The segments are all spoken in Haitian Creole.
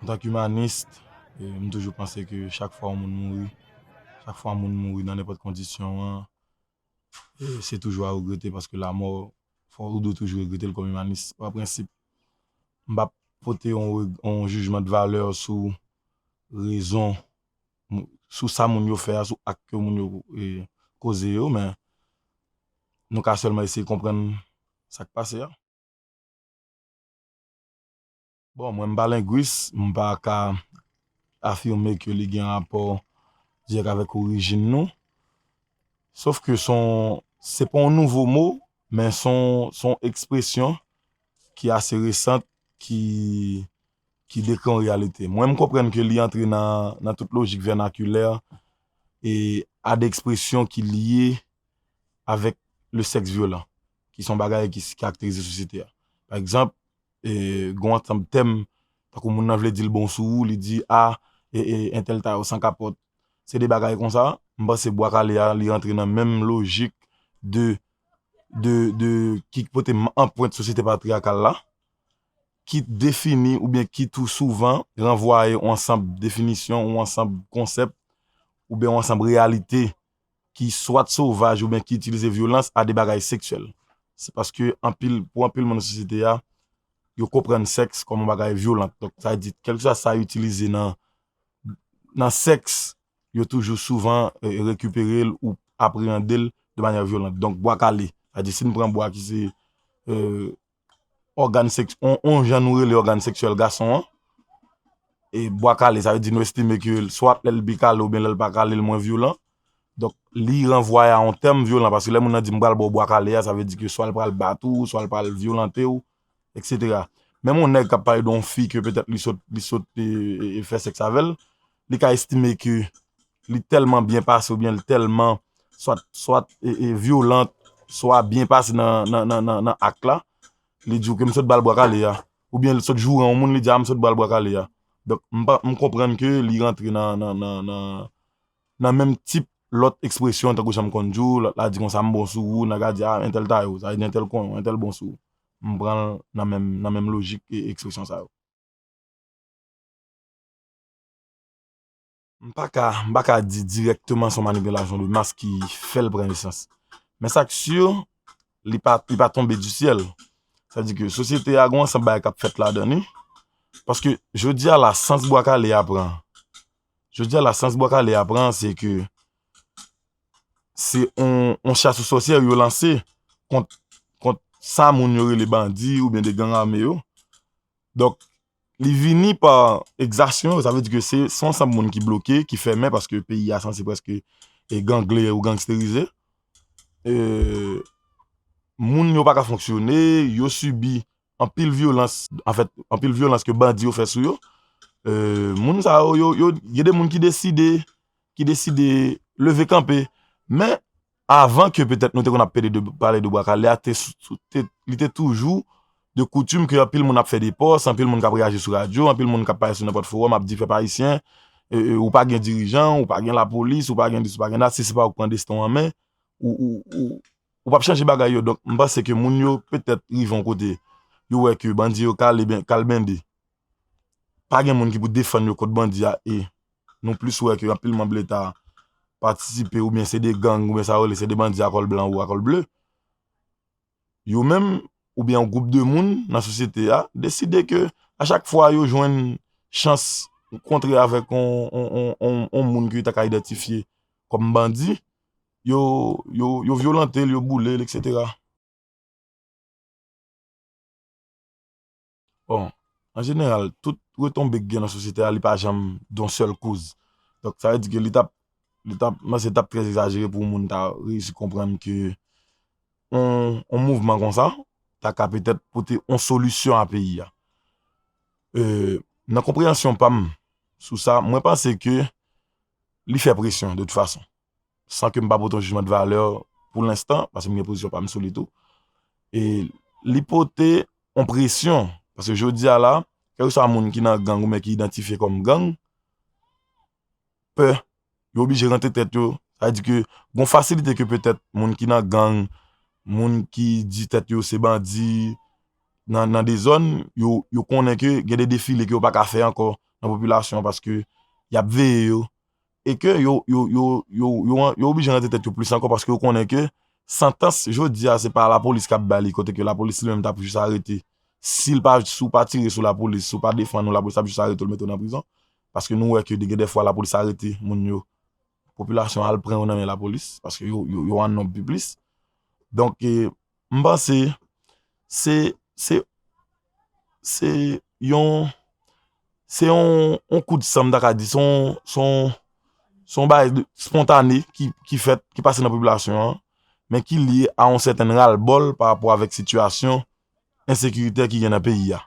antank imanist, m toujou panse ke chak fwa yon moun mouri, chak fwa yon moun mouri nan nenpòt kondisyon an, se toujou a regrete paske lamò, fò ou dwe toujou regrete l kòm imanist. Pa prensip, m pa pote yon jijman de valè sou rezon, sou sa moun yo fè a, sou ak ke moun yo koze yo, men nou ka sèlman eseye konprann sa k pase a. Bon, mwen m pa lengwis, m pa ka afime ke li gen rapò dirèk avèk orijin nou. Sof ke s on, se pa yon nouvo mo, men s on, s on ekspresyon ki ase resant, ki, ki dekri yon reyalite. Mwen m konprann ke li antre nan, nan tout lojik vènakilè e a de ekspresyon ki lye avèk le sèks vyolan, ki s on bagay ki karakterize sosyete a. Pa egzanp, Gon ansanb tèm, tankou moun nan vle di l bon sou ou, li di a entèl ta yo san kapòt. Se de bagay konsa, m panse Bwa Kale a li rantre nan menm lojik de ki pote anpwent sosyete patriyakal la, ki defini oubyen ki tou souvan ranvwaye yon ansanb definisyon, yon ansanb konsèp oubyen yon ansanb reyalite ki swat sovaj oubyen ki itilize vyolans a de bagay seksyèl. Se paske anpil, pou anpil moun nan sosyete a, yo konprann sèks kòm yon bagay vyolant. Donk sa vle di, kèlkeswa sa yo itilize nan nan sèks, yo toujou souvan rekipere l ou apreyande l de manyè vyolant. Donk bwa kale, sa vle di si n pran bwa ki se. ògàn sèks, yon jan nou rele ògàn sèksyèl gason an, e bwa kale sa vle di nou estime ke swat lè l bi kale oubyen lè l pa kale l mwen vyolan, donk li ranvwaye a yon tèm vyolan, paske lè moun nan di m pral ba w bwa kale a, sa vle di ke swa l pral bat ou, swa l pral vyolante w, eksetera. Menm yon nèg k ap pale de yon fi ke petèt li sot fè sèks avè l, li ka estime ke li tèlman byen pase oubyen li tèlman swat vyolant, swa byen pase nan ak la, li di ou ke m sot ba l bwa kale a, oubyen li sot joure yon moun li di a m sot ba l bwa kale a. Donk, m konprann ke li rantre nan menm tip lòt ekspresyon tankou jan m konn di ou, lòt la di konsa m bon sou ou, nan ka di a entèl taye ou, sa vle di entèl konnen ou, entèl bon sou ou. M pran l nan menm lojik ekspresyon sa yo. M pa ka, m pa ka di dirèkteman se yon manipilasyon de mas ki fè l pran nesans. Men sa k si, li pa, li pa tonbe di syèl. Sa di ke sosyete a gen yon ansanm bagay k ap fèt ladan li. Paske jodi a la sans Bwa Kale a pran, jodi a la sans Bwa Kale a pran se ke se yon chas sou sòsyè yo lanse kont, kont sa moun yo rele bandi oubyen de gang ame yo. Donk, Li vini pa ekzasyon, sa vle di ke se yon ansanm moun ki bloke, ki fèmen, paske peyi a sanse preske gangle ou gangsterize. Moun yo pa ka fonksyone, yo sibi anpil vyolans, anfèt, anpil vyolans ke bandi yo fè sou yo. Moun sa yo, yo, yo, gen de moun ki deside, ki deside leve kanpe. Men, Avan ke petèt nou te konn ap pede de pale de bwa kale a, li te toujou de koutim ke anpil moun ap fè de pòs, anpil moun k ap reyaji sou radyo, anpil moun k ap pale sou nenpòt fowòm ap di pèp ayisyen, ou pa gen dirijan, ou pa gen lapolis, ou pa gen dis, ou pa gen dat, si se pa ou k pran desten w an men, ou p ap chanje bagay yo. Donk, m panse ke moun yo petèt rive yon kote, yo wè ke bandi yo kale, kal bende. pa gen moun ki pou defann yo kont bandi a e nou plis wè ke anpil manb leta patisipe oubyen se de gang oubyen sa yo rele se de bandi a kòl blan ou a kòl ble yo menm oubyen yon gwoup de moun nan sosyete a deside ke a chak fwa yo jwenn chans kontre avèk yon moun ke yo ta ka idantifye kòm bandi yo vyolante l, yo boule l, etc. Bon, an jeneral, tout retonbe ki gen nan sosyete a, li pa janm don sèl koz. Donk, sa vle di ke li tap, li tap, mwen se tap trè egzajere pou moun ta reyisi konprann ke yon mouvman konsa ta ka petèt pote yon solisyon a peyi a. Nan konpreyansyon pa m sou sa, mwen panse ke li fè presyon de tout fason. san ke m pa pote yon jijman de valè pou lenstan, paske m gen pozisyon pa m sou li tou, e li pote yon presyon, paske jodi a la, kèlke swa moun ki nan gang oubyen ki idantifye kòm gang, pè, yo oblije rantre tèt yo, sa di ke gon fasilite ke petèt moun ki nan gang, moun ki di tèt yo se bandi, nan de zòn, yo konnen ke gen de defile ke yo pa ka fè ankò nan popilasyon, paske y ap veye yo, e ke yo yo oblije rantre tèt yo plis ankò paske yo konnen ke santans jodi a se pa lapolis kap ba li kote ke lapolis li menm tap jis arete si ou pa tire sou lapolis si ou pa defann ou lapolis ap jis arete ou mete ou nan prizon paske nou wè ke gen de fwa lapolis arete moun yo popilasyon al pran yo nan men lapolis paske yo an nonb pi plis donk e M panse se se se yon se yon kou de san m ta ka di se yon se yon se yon bagay de spontane ki fèt ki pase nan popilasyon an men ki lye a yon sèten ral bòl pa rapò avèk sitiyasyon ensekirite ki gen nan peyi a.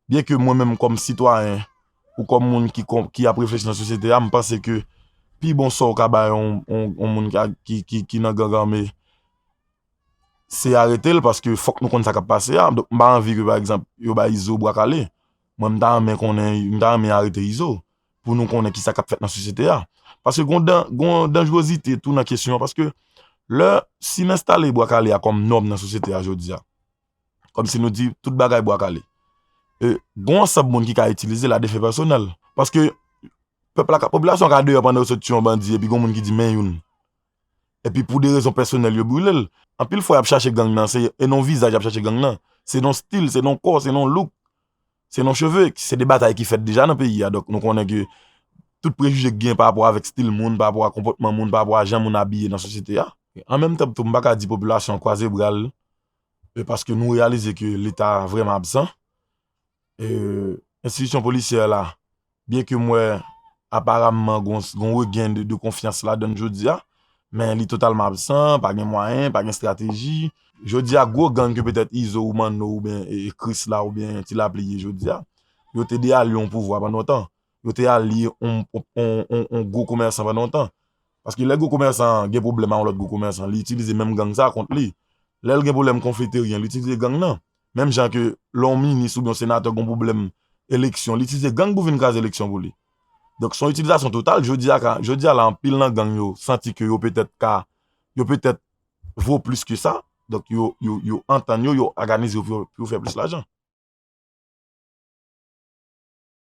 Byen ke mwen menm kòm sitwayen ou kòm moun ki ap reflechi nan sosyete a, m panse ke pi bon sò ou ka bay yon moun ki nan gang ame, se arete l, paske fòk nou konn sa k ap pase a. Donk m pa anvi ke pa egzanp yo bay Izo bwa kale. Mwen m ta renmen konnen, m ta renmen arete Izo pou nou konnen ki sa k ap fèt nan sosyete a. Paske gon danjwozite tou nan kesyon an, paske lè si n enstale bwa kale a kòm nòm nan sosyete a jodi a, Kòm si nou di tout bagay bwa kale. E gon ansanm moun ki ka itilize l a defen pèsonèl. Paske pèp la ka, popilasyon an ka deyò pandan yo sot tiye yon bandi epi gon moun ki di men youn. Epi pou de rezon pèsonèl yo brile l. Anpil fwa y ap chache gang nan se e non vizaj y ap chache gang nan. Se non stil, se non kò, se non louk, se non cheve. Se de batay ki fèt deja nan peyi a. Donk nou konnen ke tout prejije ki gen pa rapò avèk stil moun, pa rapò a konpòtman moun, pa rapò a jan moun abiye nan sosyete a. An menm tan tou m pa ka di popilasyon an kwaze bra l. e paske nou reyalize ke leta vreman absan e enstitisyon polisyè la byen ke m wè aparamman gon regen de konfyans la dan jodi a men li totalman absan pa gen mwayen, pa gen estrateji jodi a gwo gang ke petèt izo ou manno ou byen krisla ou byen tilapli ye jodi a yo te de alyon pouvwa pandan yon tan yo te al liye yon gwo komèsan pa lontan. Paske lè gwo komèsan an gen pwoblèm ak yon lòt gwo komèsan, li itilize menm gang sa a kont li. Lè l gen pwoblèm konfliteryen, li itilize gang nan. Menm jan ke lè yon minis oubyen yon senatè gen pwoblèm eleksyon, li itilize gang pou vin kraze eleksyon pou li. Donk se yon itilizasyon total. Jodi a la anpil nan gang yo santi ke yo petèt ka, yo petèt vo plis ke sa. Donk yo antann yo, yo òganize yo pou yo fè plis lajan.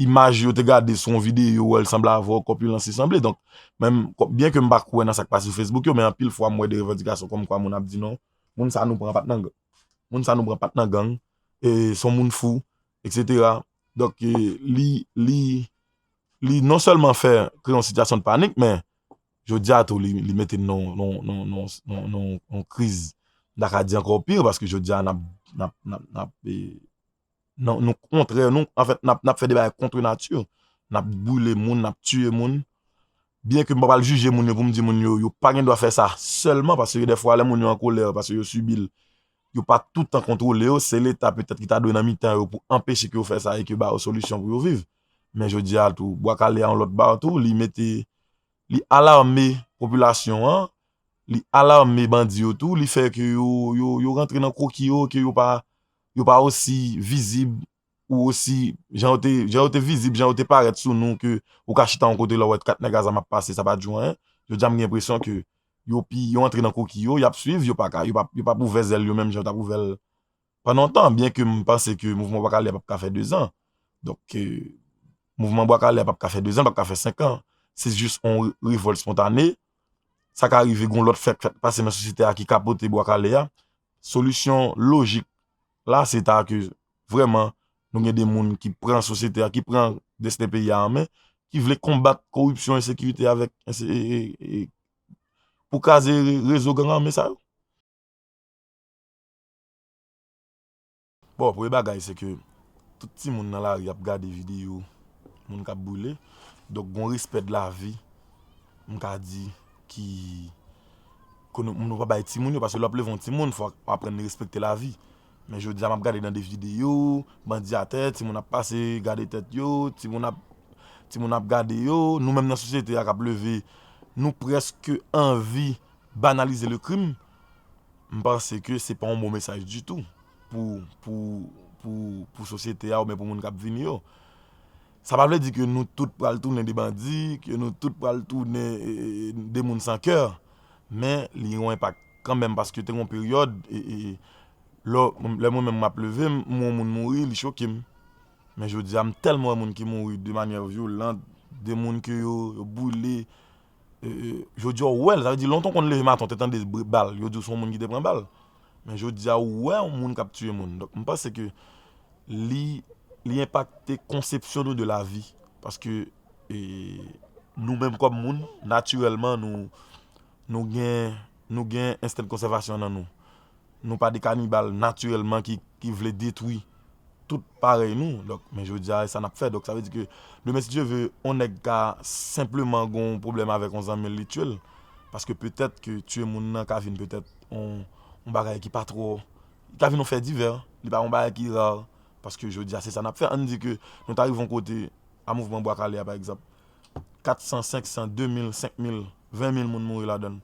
Imaj yo te gade sou yon videyo wè l sanble avè w kòpilans li sanble donk menm byen ke m pa kwè nan sa k pase sou Facebook yo men anpil fwa m wè de revandikasyon kòm kwa moun ap di non moun sa nou pran pat nan moun sa nou pran pat nan gang e se yon moun fou eksetera donk li li li non sèlman fè kreye yon sitiyasyon de panik men jodi a tou li mete n nan yon kriz m ta ka di ankò pi paske jodi a n ap n ap n ap Non, nou kontrè, nou, anfèt, n ap fè de bagay kontre nati. N ap boule moun, n ap tiye moun. Byen ke m pa pral jije moun yo pou m di moun yo, yo pa gen dwa fè sa sèlman, paske de fwa lè moun yo an kolè, paske yo sibi l, yo pa toutan kontwole yo, se leta petèt ki ta dwe nan mitan yo pou anpeche ke yo fè sa e ke ba yo solisyon pou yo viv. Men jodi a tou, Bwa Kale a yon lòt ba tou, li mete, li alarme popilasyon an, li alarme bandi yo tou, li fè ke yo, yo rantre nan kwoki yo, ke yo pa, yo pa osi vizib ou osi jan yo te jan yo te vizib jan yo te parèt sou nou ke ou ka chita yon kote lè ou wè 4 nèg azam ap pase sa pa di w anyen jodi a m gen enpresyon ke yo pi yo antre nan koki yo y ap swiv yo pa ka yo p ap ouvè zèl yo menm jan yo t ap ouvè l pandan yon tan byen ke m panse ke mouvman bwa kale a p ap ka fè 2 zan donk mouvman bwa kale a p ap ka fè 2 zan l p ap ka fè 5 an se jis yon revòlt spontane sa ka rive gen yon lòt fè k fèk pase nan sosyete a ki kapote bwa kale a Solisyon lojik la se ta ke vrèman nou gen de moun ki pran sosyete a, ki pran desten peyi a an men, ki vle konbat koripsyon, ensekirite avèk pou kraze rezo gang ame sa yo. Bon premye bagay se ke tout timoun nan lari ap gade video moun kap boule donk gon respè de lavi m ka di ki ke nou pa bay timoun yo paske lè wap leve yon timoun fòk wap aprann respekte lavi men jodi a map gade nan de video bandi atè timoun ap pase gade tèt yo timoun ap timoun ap gade yo nou menm nan sosyete a kap leve nou prèske anvi banalize le krim. m panse ke se pa yon bon mesaj ditou pou sosyete a oubyen pou moun k ap vini yo. Sa pa vle di ke nou tout pral tounen de bandi, ke nou tout pral tounen de moun san kè, men li gen yon enpak kanmenm paske te gen yon peryòd, lò mwen menm m ap leve, m wè yon moun mouri, li choke m. Men jodi a m tèlman wè moun ki mouri de manyè vyolan, de moun ke yo boule, Jodi a ou wè l, sa vle di lontan ou konn leve maten ou te tande bal, yo di w se yon moun ki te pran bal. Men jodi a ou wè yon moun k ap tiye moun. Donk m panse ke li enpakte konsepsyon nou de lavi. Paske nou menm kòm moun, natirèlman nou gen. Nou gen ensten konsèvasyon nan nou. Nou pa de kanibal natirèlman ki vle detwi tout parèy nou. Donk, men jodi a, e sa n ap fè. Donk, sa vle di ke demen si Dye ve, yon nèg ka senpleman gen yon pwoblèm avèk yon zanmi l, li tye l. Paske petèt ke tye moun nan ka vin petèt yon bagay ki pa twò, li ka vin yon fè divè. Li pa yon bagay ki rar. Paske jodi a, se sa n ap fè. An n di ke nou ta rive yon kote a Mouvman Bwa Kale a pa egzanp. 400, 500, 2000, 5000, 20000 moun mouri ladann.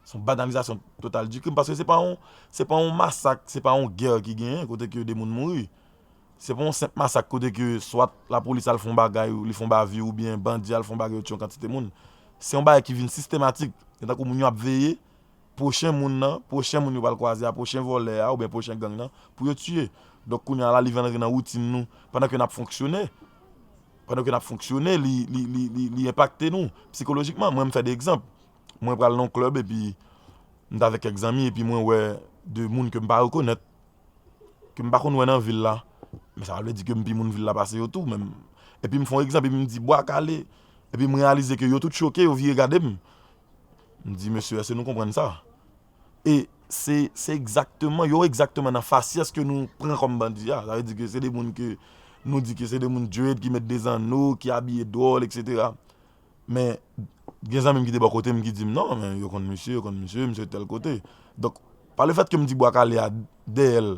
Se yon banalizasyon total di krim paske se pa yon se pa yon masak, se pa yon gè ki genyen kote ke de moun mouri. Se pa yon senp masak kote ke swat lapolis al fon bagay ou li fon bavi ou byen bandi al fon bagay yo tye yon kantite moun. Se yon bagay ki vin sistematik. Se tankou moun yo ap veye pwochen moun nan, pwochen moun yo pral kwaze a, pwochen vòlè a ou byen pwochen gang nan pou yo tye. Donk kounye a la li vin antre nan woutin nou pandan ke n ap fonksyone. pandan ke n ap fonksyone li enpakte nou psikolojikman mwen m fè de egzanp mwen pral nan yon klèb epi m t avèk kèk zanmi epi mwen wè de moun ke m pa rekonèt ke m pa konn wè nan vil la men sa pa vle di ke m pi moun vil la pase yo tou menm epi m fon egzanp epi m di bwa kale epi m reyalize ke yo tout choke yo vire gade m m di mesye èske nou konprann sa. E se se egzakteman, yo egzakteman nan fasyès ke nou pran kòm bandi a. Sa vle di ke se de moun ke nou di ke se de moun dread, ki met de zanno, ki abiye dwòl, eksetera. Men, gen zanmi m ki te bò kote m ki di m, non, men, yo konn misye, yo konn misye, misye tèl kote. Donk, pa le fèt ke m di Bwa Kale a, dèyè l,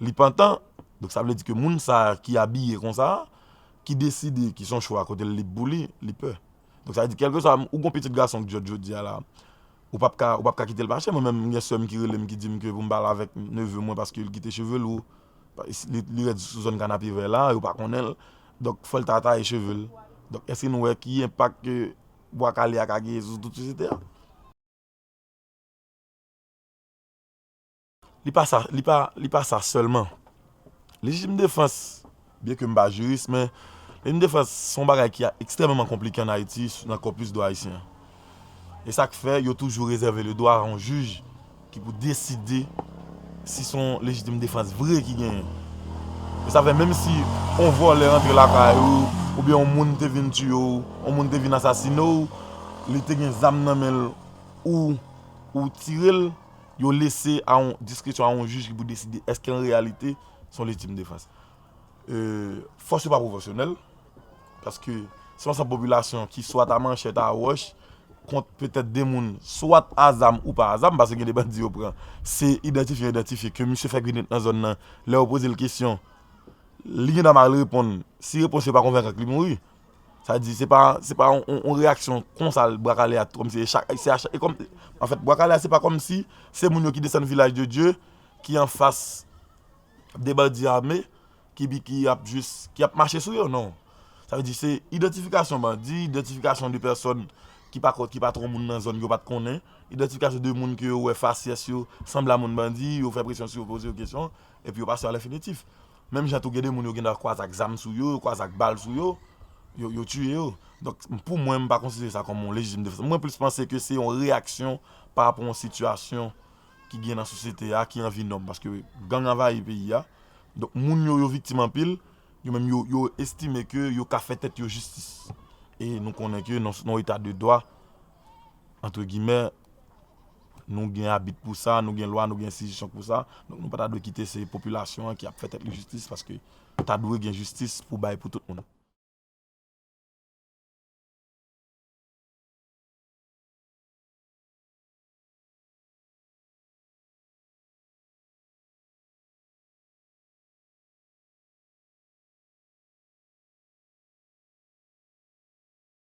li pantan, donk sa vle di ke moun sa a ki abiye kon sa a, ki deside, ki son chwa kote l lib pou li, li pè. Donk sa vle di kèlkeswa, ou gon pitit gason k dyòl jodi a la, Ou pap ka ou pap ka kitel mache mwen menm gen sèm ki relem ki dim ke poum pa al avèk neveu mwen paske li kite cheve lou li rèd sou zòn kanapevè la yo pa konnenl donk fòl ta taye chevel donk eske nou wè ki enpak ke bwa kale a ka genyen sou tout sosyete a. Li pa sa, li pa, li pa sa sèlman. Lejitim defans, byenke m pa jiris, men lejitim defans se yon bagay ki ekstrèmeman konplike ann Ayiti nan kòpis dwa ayisyen an. E sa k fè yo toujou rezève ledwa a yon jij ki pou deside si se yon lejitim defans vre ki genyen. E sa fè menm si yon vòlè antre lakay ou, oubyen yon moun te vin tiye w, yon moun te vin asasine w, li te gen zam nan men l ou ou tire l, Yo lese a diskresyon a yon jij ki pou deside èske an reyalite se yon lejitim defans. Fòs yo pa pwofesyonèl, paske se yon ansanm popilasyon ki swat a manchèt, a wòch, kont petèt 2 moun, swat a zam ou pa a zam, paske gen 2 bandi yo pran, se idantifye yo idantifye ke misye fèk vin nan zòn nan, lè yo poze l kesyon, li gendwa mal reponn, si repons yo pa konvenk ak li mouri. Sa vle di se pa se pa yon reyaksyon konsa bwa kale a kòm si e chak se a chak e kòm anfèt bwa kale a se pa kòm si se moun yo ki desann vilaj de dye ki anfas de bandi ame ki bi ki ap jis ki ap mache sou yo non sa vle di se idantifikasyon bandi idantifikasyon de pèsòn ki pa kont ki pa twò moun nan zòn yo pat konnen idantifikasyon de moun ke yo wè fasyès yo sanble a moun bandi yo fè presyon sou yo poze yo kesyon epi yo pase yo alèfinitif Menm jan tou gen de moun yo gen dwa kwaze ak zam sou yo, yo kwaze ak bal sou yo, yo tiye yo. Donk pou mwen m pa konsidere sa kòm yon lejitim defans. Mwen plis panse ke se yon reyaksyon pa rapò yon sitiyasyon ki gen nan sosyete a ki anvi nòm. Paske gang anvayi peyi a. Donk moun yo, yo viktim anpil. Yo menm yo estime ke yo ka fè tèt yo jistis. E nou konnen ke nan yon eta de dwa, antre gimè, nou gen abit pou sa, nou gen lwa, nou gen enstitisyon pou sa, donk nou pa ta dwe kite se popilasyon an ki ap fè tèt li jistis paske ta dwe gen jistis pou bay pou tout moun.